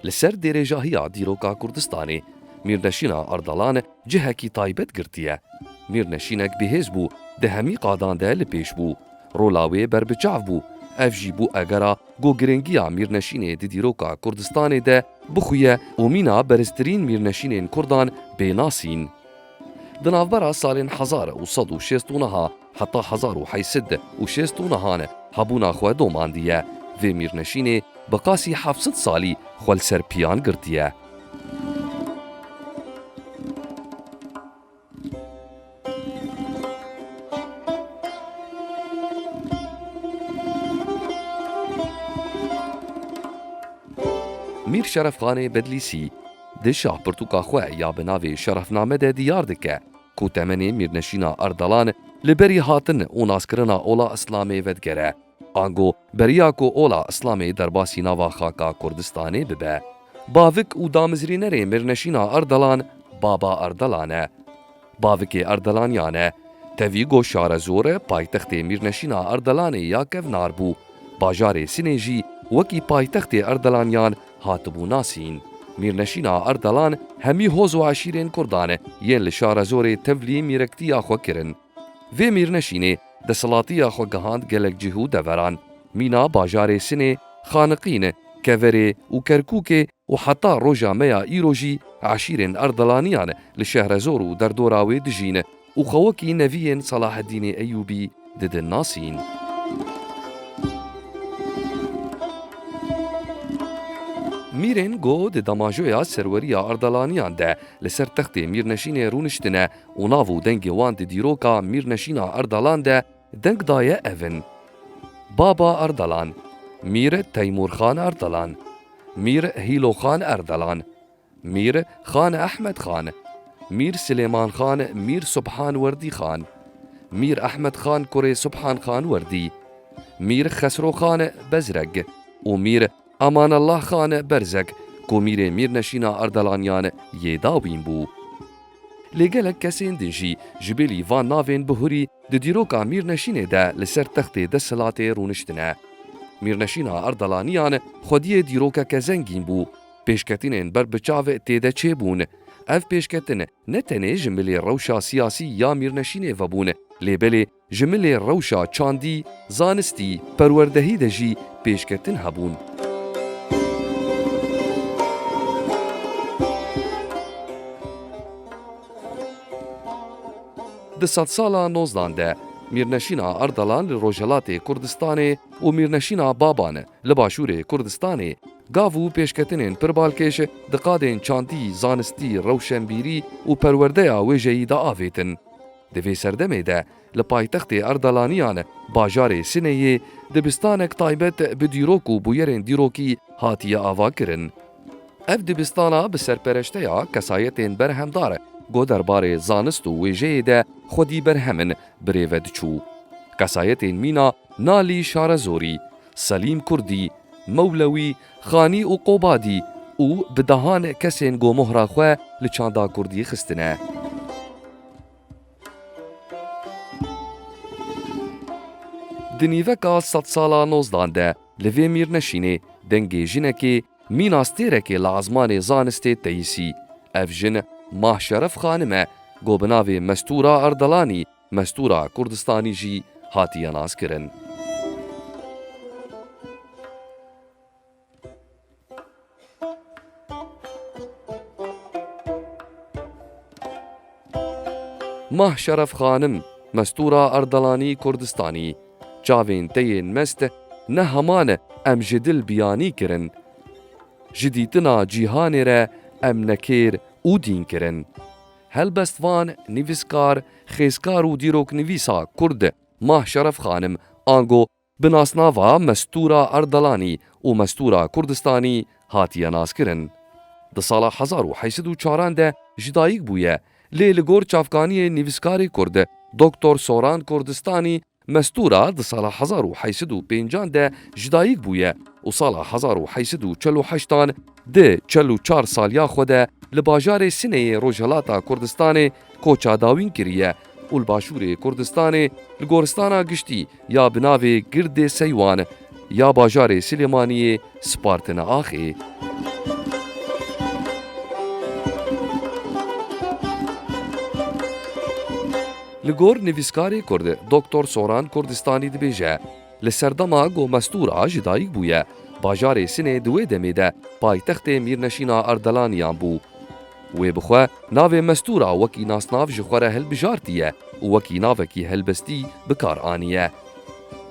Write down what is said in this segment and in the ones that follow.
Li ser dêrêjahiya dîroka Kurdistanê, Mîrneşîna Ardalan cihekî taybet girtiye. Mîrneşînek bihêz bû, di hemî qadan de li pêş bû. Rola wê berbiçav bû. Ev jî bû egera ku girîngiya Mîrneşînê di dîroka Kurdistanê de bixuye û mîna beriztirîn mîrneşînên Kurdan bê nasîn. Di navbera salên hezar û sed û şêst û niha, heta hezar û heyt sed û şêst û niha ne hebûna xwe domandiye. Vê mîrneşînê bi qasî heft sed salî xwe li ser piyan girtiye. Mîr Şerefxanê Bedlîsî di şahpirtûka xwe ya bi navê Şerefname de diyar dike. ku temenê mîrnişîna Erdalan li berî hatin û naskirina Ola Îslamê vedigere, ango beriya ku Ola Îslamê derbasî nava xaka Kurdistanê bibe. Bavik û damizrînerê mîrnişîna Erdalan Baba Erdalan e. Bavikê Erdalaniyan e. Tevî ku Şarezor paytextê mîrnişîna Erdalanê ya kevnar bû, bajarê Sinê jî wekî paytextê Erdalaniyan hatibû nasîn. Mîrneşîna Erdelan hemî hoz û eşîrên Kurdan yên li Şarezorê tevlî mîrektiya xwe kirin. Vê mîrneşînê desthilatiya xwe gihand gelek cih û deveran. Mîna bajarê Sinê, Xaniqîn, Keverê û Kerkûkê û heta roja me ya îro jî eşîrên Erdelaniyan li Şehrezor û derdora wê dijîn. Û xwe wekî neviyên Salaheddînê Eyûbî didin nasîn. Mîrên ku di damajoya serweriya Erdalaniyan de li ser textê Mîrneşînê rûniştine û nav û dengê wan di dîroka Mîrneşîna Erdalan de deng daye ev in, Baba Erdalan, Mîr Teymûrxan Erdalan, Mîr Hîloxan Erdalan, Mîr Xan Ehmed Xan Mîr Silêman Xan Mîr Subhan Werdî Xan Mîr Ehmed Xan kurê Subhan Xan Werdî Mîr Xesro Xan Bezreg û Mîr Amanallah Xan Berzek ku mîrê mîrneşîna Erdalaniyan yê dawîn bû. Lê gelek kesên din jî ji bêlî van navên bihurî di dîroka mîrneşînê de li ser textê desthilatê rûniştine. Mîrneşîna Erdalaniyan xwediyê dîrokeke zengîn bû. Pêşketinên ber bi çav têde çêbûn. Ev pêşketin ne tenê ji milê rewşa siyasî ya Mîrneşînê vebûn, lê belê ji milê rewşa çandî, zanistî, perwerdehî de jî pêşketin hebûn. Di sedsala nozdan de Mîrneşîna Ardalan li Rojhelatê Kurdistanê û Mîrneşîna Baban li Başûrê Kurdistanê, Gav û pêşketinên pir balkêş di qadên çandî, zanistî, rewşenbîrî û perwerdeya wêjeyî de avêtin. Di vê serdemê de li paytextê Erdalaniyan bajarê Sineyê dibistanek taybet bi dîrok û bûyerên dîrokî hatiye avakirin. Ev dibistana bi serpereşteya kesayetên berhemdar ku derbarê zanist û wêjeyê de xwedî berhem in birêve diçû. Kesayetên mîna Nalî Şarezorî, Selîm Kurdî, Mewlewî, Xanî û Qobadî û bi dehan kesên gomohra xwe li çanda Kurdî xistine. Di nîveka sedsala nozdan de li vê mîrneşînê dengê jinekê mîna stêrekê li ezmanê zanistê teyîsî. Ev jin Mah Şeref Xanim e, ku bi navê Mestûra Erdelanî Mestûra Kurdistanî jî hatiye naskirin. Mah Şeref Xanim, Mestûra Erdelanî Kurdistanî, Çavên te yên mest ne heman e em ji dil biyanî kirin. Ji dîtina cîhanê re em nekêr û dîn kirin. Helbest van nivîskar, xêzkar û dîroknivîsa kurd Mah Şeref Xanim ango bi nasnava Mestûra Erdelanî û Mestûra Kurdistanî hatiye naskirin. Di sala hezar û heşt sed û çaran de ji dayik bûye lê li gor çavkaniyê nivîskarê kurd Doktor Soran Kurdistanî Mestura di sala hezar û heşt sed û pêncan de ji dayik bûye û sala hezar û heşt sed û çil û heştan di çil û çar saliya xwe de li bajarê Sineyê Rojhilata Kurdistanê koça dawîn kiriye û li Başûrê Kurdistanê li goristana giştî ya bi navê Girdê Seywan ya bajarê Silêmaniyê Spartine axê. Li gor nivîskarê Kurd Doktor Soran Kurdistanî dibêje, Li serdema ku Mestûra ji dayik bûye, bajarê Sinê di wê demê de paytextê Mîrneşîna Ardelaniyan bû. Wê bi xwe navê Mestûra wekî nasnav ji xwe re hilbijartiye û wekî navekî helbestî bi kar aniye.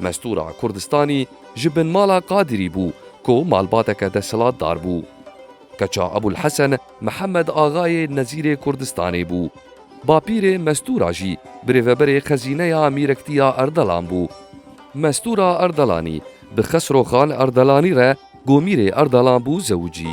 Mestûra Kurdistanî Ji binmala Qadirî bû ku malbateke desthilatdar bû. Keça Ebûlhesen Mihemed Axayê Nezîrê Kurdistanê bû. Bapîrê Mestûra jî birêveberê xezîneya Mîrektiya Erdelan bû. Mestûra Erdelanî bi Xesro Xan Erdelanî re ku mîrê Erdelan bû zewicî.